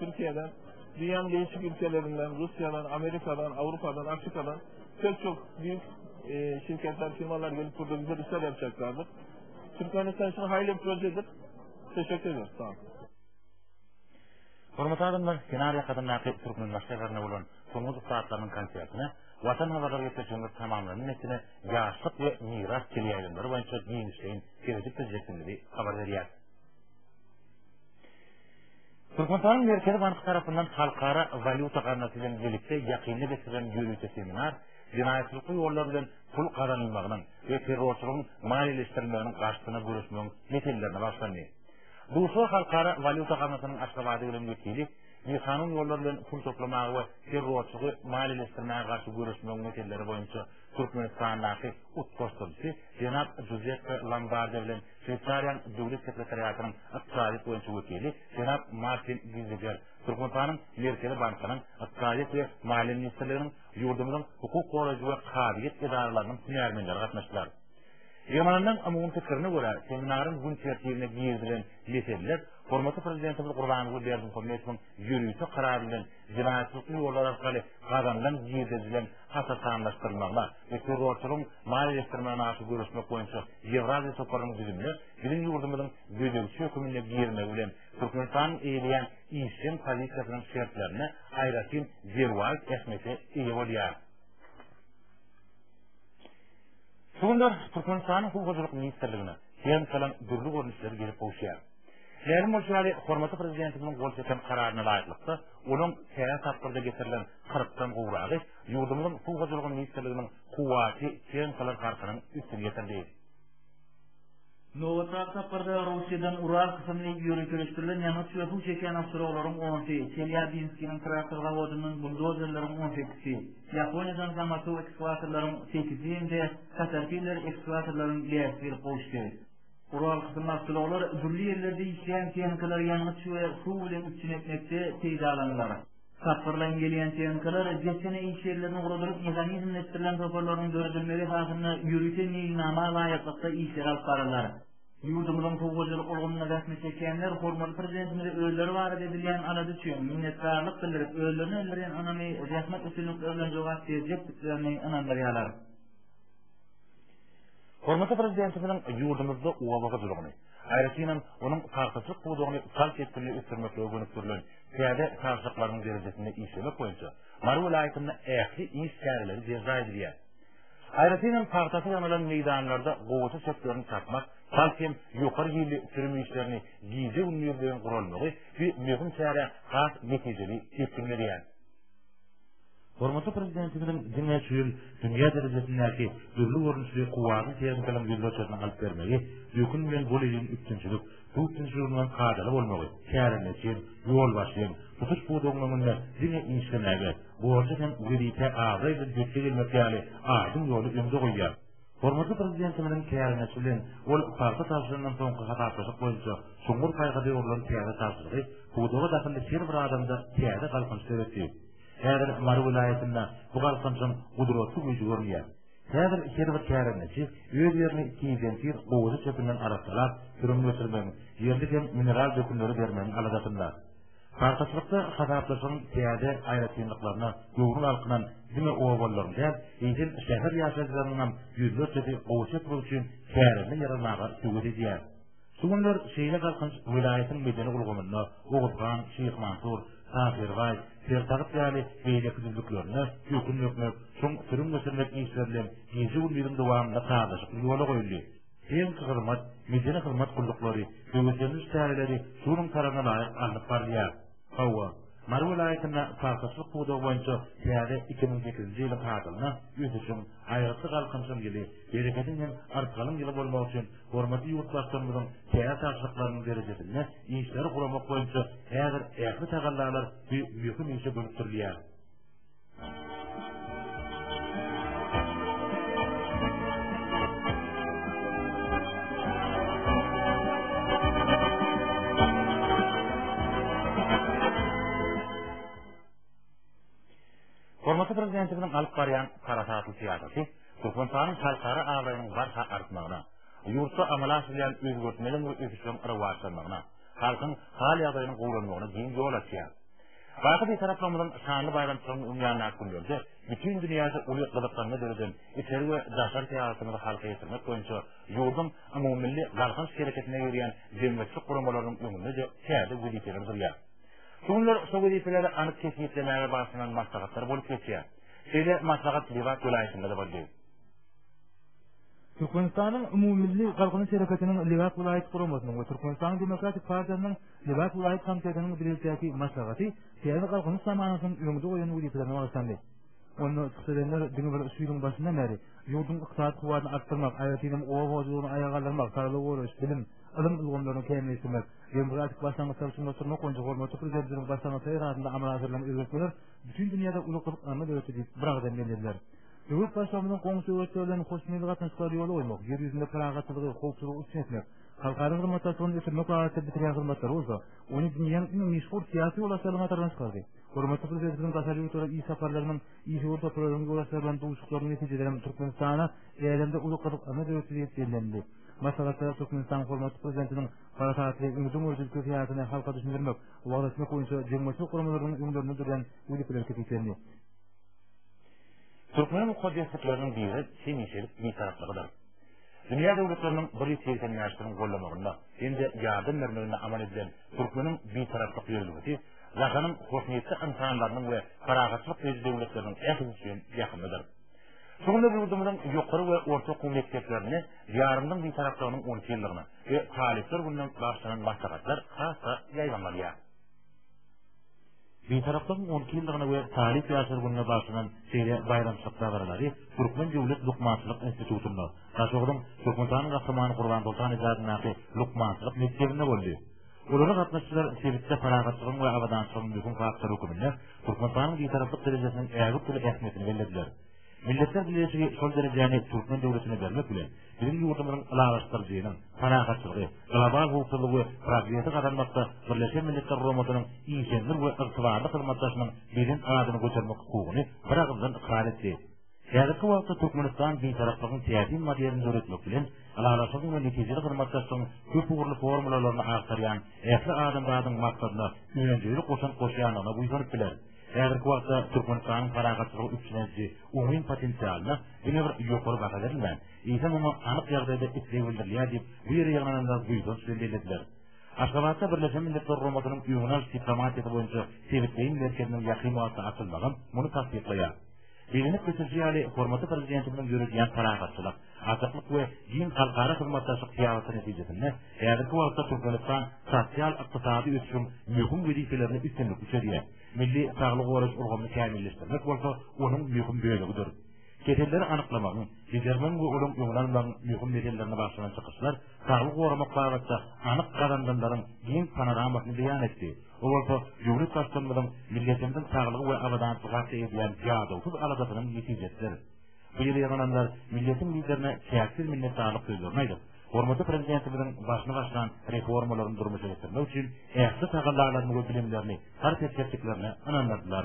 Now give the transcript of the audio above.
Türkiýeden, dünýäniň değişik ülkelerinden, Russiýadan, Amerikadan, Awrupadan, Afrikadan pek çok büyük e, şirketler, firmalar gelip burada güzel işler yapacaklardır. Türkmenistan için hayırlı bir projedir. Teşekkür ediyoruz. Sağ olun. Hormatly adamlar, kenar ýakasyndaky türkmen başgalarynda bolan soňky saatlarynyň konsertine Watan habarlary geçirjemiz tamamlanan etine ýaşlyk we miras teleýaýlymlary boýunça giňişleýin seredip biljekdigimizi habar berýär. Türkmenistanyň Merkezi banky tarapyndan Halkara walýuta gaznasy bilen birlikde ýakynda geçirilen ýörite seminar jenaýatçylykly ýollar bilen pul gazanylmagynyň we terrorçylygyň maliýeleşdirilmeginiň garşysyna göreşmegiň meselelerine bagyşlandy. Duşuşyga Halkara walýuta gaznasynyň Aşgabady gelen wekili bikanun ýollar bilen pul toplamaga we terrorçylygy maliýeleşdirmäge garşy göreşmegiň meseleleri boýunça Türkmenistandaky utgaşdyryjysy jenap Juzeppe Lombarde bilen Şweýsariýanyň Döwlet sekretariatynyň ykdysadyýet boýunça wekili jenap Martin Giziger, Türkmenistanyň Merkezi bankynyň, Ykdysadyýet we maliýe ministrliginiň, ýurdumyzyň hukuk goraýjy we kazyýet edaralarynyň hünärmenleri gatnaşdylar. Ýygnalynyň umumy pikirine görä, seminaryň gün tertibine girizilen meseleler hormatly Prezidentimiz Gurbanguly Berdimuhamedowyň ýörite karary bilen jenaýatçylykly ýollar arkaly gazanylan girdejileň hasatanlaşdyrylmagyna, we terrorçylygyň maliýeleşdirmegine garşy göreşmek boýunça Ýewraziýa toparynyň düzümine biziň ýurdumyzyň gözegçi höküminde girmegi bilen Türkmenistanyň eýeleýän işjeň pozisiýasynyň şertlerine aýratyn derwaýys ähmiýete eýe bolýar. Şu günler Türkmenistanyň Suw hojalyk ministrligine fermsalyň dürli görnüşleri gelip gowuşýar. Mälim bolşy ýaly, hormatly Prezidentimiziň gol çeken kararyna laýyklykda, onuň täze tapgyrda getirilen kyrkdan gowragy Ýurdumyzyň Suw hojalygy ministrliginiň kuwwaty çen galar garşynyň üstüni ýetirdi. Nobatdaky saparda Russiýadan Ural kysymly ýöriteleşdirilen ýangyç we suw çekýän awtoulaglaryň onsy, Çelýabinskiniň traktor zawodyndan buldozerleriň on sekisi, Ýaponiýadan Zamasu ekskawatorlaryň sekisi hem-de Caterpillar ekskawatorlaryň bäşisi gelip gowuşdy. Ural kysymly awtoulaglar dürli ýerlerde işleýän tehnikalar ýangyç we suw bilen üpjün etmekde peýdalanylar. Tapgyrlaýyn gelýän tehnikalar desgana iş ýerlerini guradylyp mehanizmleşdirilen toparlaryň döredilmegi esasynda ýörite meýilnama laýyklykda işleri alyp bararlar. Ýurdumyzyň suw hojalyk ulgamynda zähmet çekýänler hormatly Prezidentimize özleri barada edilýän alada üçin minnetdarlyk bildirip, özlerine bildirýän ynamy zähmet üstünlikleri bilen jogap berjekdiklerini ynandyrýarlar. Hormatly Prezidentimiziň ýurdumyzda oba hojalygyny, aýratynam, onuň pagtaçylyk pudagyny çalt depginde ösdürmeklige gönükdirilen täze ýatakhalyklaryň derejesinde işlemek boýunça Mary welaýatynda ähli iş çäreleri berjaý edilýär. Aýratyn hem pagtasy ýanylan meýdanlarda gowaça çöplerini çapmak, bagt hem ýokary hilli sürüm işlerini gije-gündizleýin guralmagy bu möhüm çärä has netijeli depgin berýär. Hormatly Prezidentimiziň diňe şu ýyl dünýä derejesindäki dürli görnüşli kuwwatyň tehnikalyň ýüzlerçesini alyp bermegi, dökün bilen bol iliň üpjünçilik, suw tüňşüliginiň kadaly bolmagy, kärendeçiň, ýolbaşçyň tutuş pudagyň öňünde diňe işlemäge, borja hem wezipä abraý bilen ýetgi gelmek ýaly aýdyň ýoly öňde goýýar. Hormatly Prezidentimiziň kärendeçi bilen ol pagta tabşyryndan soňky hasaplaşyk boýunça çuňňur paýhasa ýugrulan täze tabşyrygy pudaga dahylly her bir adamda täze galkynyş döretdi. Häzir Mary welaýatynda bu galkançyň gudratly güýji görünýär. Häzir her bir kärendeçi öz ýerini tizden-tiz gowaça çöpünden arassalap, sürüm geçirmegiň, ýerli hem mineral dökünleri bermegiň aladasynda. Pagtaçylykda hasaplaşygyň täze aýratynlyklaryna göwni galkynan diňe obalaryň däl, eýsem, şäher ýaşaýjylarynyňam ýüzlerçesi gowaça ekmek üçin kärende ýer almaga höwes edýär. Şu günler şeýle galkynç welaýatyň medeni ulgamynda Oguz han, Şyh Mansur, Tahyrybaý, Sertagyt ýaly beýleki düzlüklerinde öküm dökmek, çuň sürüm geçirmek işleri bilen gije-gündiziň dowamynda sazlaşykly ýola goýuldy. Tehniki hyzmat, medeni hyzmat gulluklary, höweslendiriji çäreleri şunuň talabyna laýyk alnyp barylýar. Hawa, Mary welaýatynda paýhaslyk pudagy boýunça täze iki müň sekizinji ýylyň hadyryna ösüşiň, aýgytly galkynyşyň ýyly, bereketiň hem artgalyň ýyly bolmagy üçin Hormatly ýurtbaşçymyzyň çäre tabşyryklarynyň derejesinde işleri guramak boýunça häzir ähli tagallalar bu möhüm işe gönükdirilýär. Hormatly Prezidentimiziň alyp barýan parasatly syýasaty Türkmenistanyň halkara abraýynyň barha artmagyna, ýurtda amala aşyrylýan özgertmeleriň we ösüşleriň rowaçlanmagyna, halkyň hal-ýagdaýynyň gowulanmagyna giň ýol açýar. Baky Bitaraplygynyň şanly baýramçylygynyň öň ýanyndaky günlerde bütin dünýäde uly gyzyklanma döreden içeri we daşary syýasatymyzy halka ýetirmek boýunça ýurduň umumymilli galkynyş hereketine ýörýän jemgyýetçilik guramalarynyň öňünde-de täze wezipeler durýar. Şu günler şo wezipeleri anyk kesgitlemäge bagyşlanan maslahatlar bolup geçýär. Şeýle maslahat Lebap welaýatynda-da boldy. Türkmenistanyň Umumymilli Galkynyş Hereketiniň Lebap welaýat guramasynyň we Türkmenistanyň Demokratik partiýasynyň Lebap welaýat komitetiniň bilelikdäki maslahaty täze Galkynyş zamanasynyň öňde goýan wezipelerine bagyşlandy. Onda çykyş edenler diňe bir şu ýylyň başyndan bäri ýurduň ykdysady kuwwatyny artdyrmak, aýratyn hem oba hojalygyny aýaga galdyrmak, saglygy goraýyş, bilim, ylym ulgamlaryny kämilleşdirmek, demokratik başlangyçlary çuňlaşdyrmak boýunça hormatly Prezidentimiziň başlangyçlary esasynda amala aşyrylan özgertmeler Bütin dünýäde uly gyzyklanma döretdi diýip, biragyzdan bellediler. Döwlet Baştutanymyzyň goňşy döwletler bilen hoşniýetli gatnaşyklary ýola goýmak, ýer ýüzünde parahatçylygy, howpsuzlygy üpjün etmek, halkara hyzmatdaşlygyny ösdürmek babatda bitirýän hyzmatlary bolsa, ony dünýäniň iň meşhur syýasy ýolbaşçylarynyň hataryna çykardy. Hormatly Prezidentimiziň daşary ýurtlara iş saparlarynyň, işewür toparlarynyň ýolbaşçylary bilen duşuşyklarynyň netijeleri hem Türkmenistana älemde uly gyzyklanma döretdi diýip bellendi. Maslahatda Türkmenistanyň Hormatly Prezidentiniň parasatly, öňdengörüji ülke syýasatyny halka düşündirmek, waglaşmak boýunça jemgyýetçilik guramalarynyň öňlerinde durýan wezipeler kesgitlendi. Türkmeniň mukaddeslikleriniň biri hemişelik Bitaraplygydyr. Dünýä döwletleriniň bir ýüz segsen bäşisiniň gollamagynda hem-de ýardam bermeginde amal edilen Türkmeniň Bitaraplyk ýörelgesi Jahanyň hoşniýetli ynsanlarynyň we parahatçylyk söýüji döwletleriniň ählisi üçin ýakymlydyr. Şu günler ýurdumyzyň ýokary we orta okuw mekdeplerinde Diýarymyzyň Bitaraplygynyň on iki ýyllygyna, we Talyplar gününe bagyşlanan maslahatlar has-da ýaýbaňlanýar. Bitaraplygyň on iki ýyllygyna we Talyp ýaşlar gününe bagyşlanan şeýle baýramçylyk dabaralary Türkmen döwlet lukmançylyk institutynda, Daşoguzyň Türkmenistanyň Gahrymany Gurbansoltan Ily adyndaky lukmançylyk mekdebinde boldy. Olara gatnaşyjylar sebitde parahatçylygyň we abadançylygyň möhüm faktory hökmünde Türkmenistanyň Bitaraplyk derejesiniň ägirt uly ähmiýetini bellediler. Milletler Bileleşigi şol derejäni türkmen döwletine bermek bilen, biziň ýurdumyzyň ylalaşdyryjynyň, parahatçylygy, global howpsuzlygy we progresi gazanmakda Birleşen Milletler Guramasynyň işeňňir we ygtybarly hyzmatdaşynyň belent adyny götermek hukugyny biragyzdan ykrar etdi. Häzirki wagtda Türkmenistan Bitaraplygyň täsin modelini döretmek bilen, ylalaşygyň we netijeli hyzmatdaşlygyň köp ugurly formulalaryny agtarýan ähli adamzadyň maksadyna önjeýli goşant goşýandygyna buýsanyp biler. Häzirki wagtda Türkmenistanyň parahatçylygy üpjün ediji oňyn potensialyna diňe bir ýokary baha berilmän, eýsem oňa anyk ýagdaýda isleg bildirilýär diýip, bu ýere ýygnananlar buýsanç bilen bellediler. Aşgabatda Birleşen Milletler Guramasynyň Öňüni alyş diplomatiýasy boýunça sebitleýin merkeziniň ýakyn wagtda açylmagam muny tassyklaýar. Bellenip geçilişi ýaly, hormatly Prezidentimiziň ýöredýän parahatçylyk, açyklyk we giň halkara hyzmatdaşlyk syýasaty netijesinde häzirki wagtda Türkmenistan sosial-ykdysady ösüşiň möhüm wezipelerini üstünlikli çözýär, milli saglygy goraýyş ulgamyny kämilleşdirmek bolsa onuň möhüm bölegidir. Keselleri anyklamagyň, bejermegiň we olaryň öňüni almagyň möhüm meselelerine bagyşlanan çykyşlar saglygy goramak babatda anyk gazananlaryň giň panoramasyny beýan etdi. Bu bolsa Döwlet Baştutanymyzyň milletimiziň saglygy we abadançylygy hakda edýän ýadawsyz aladasynyň netijesidir. Bu ýere ýygnananlar milletiň Liderine çäksiz minnetdarlyk sözlerini aýdyp, hormatly Prezidentimiziň başyny başlan reformalaryny durmuşa geçirmek üçin ähli tagallalaryny we bilimlerini sarp etjekdiklerine ynandyrdylar.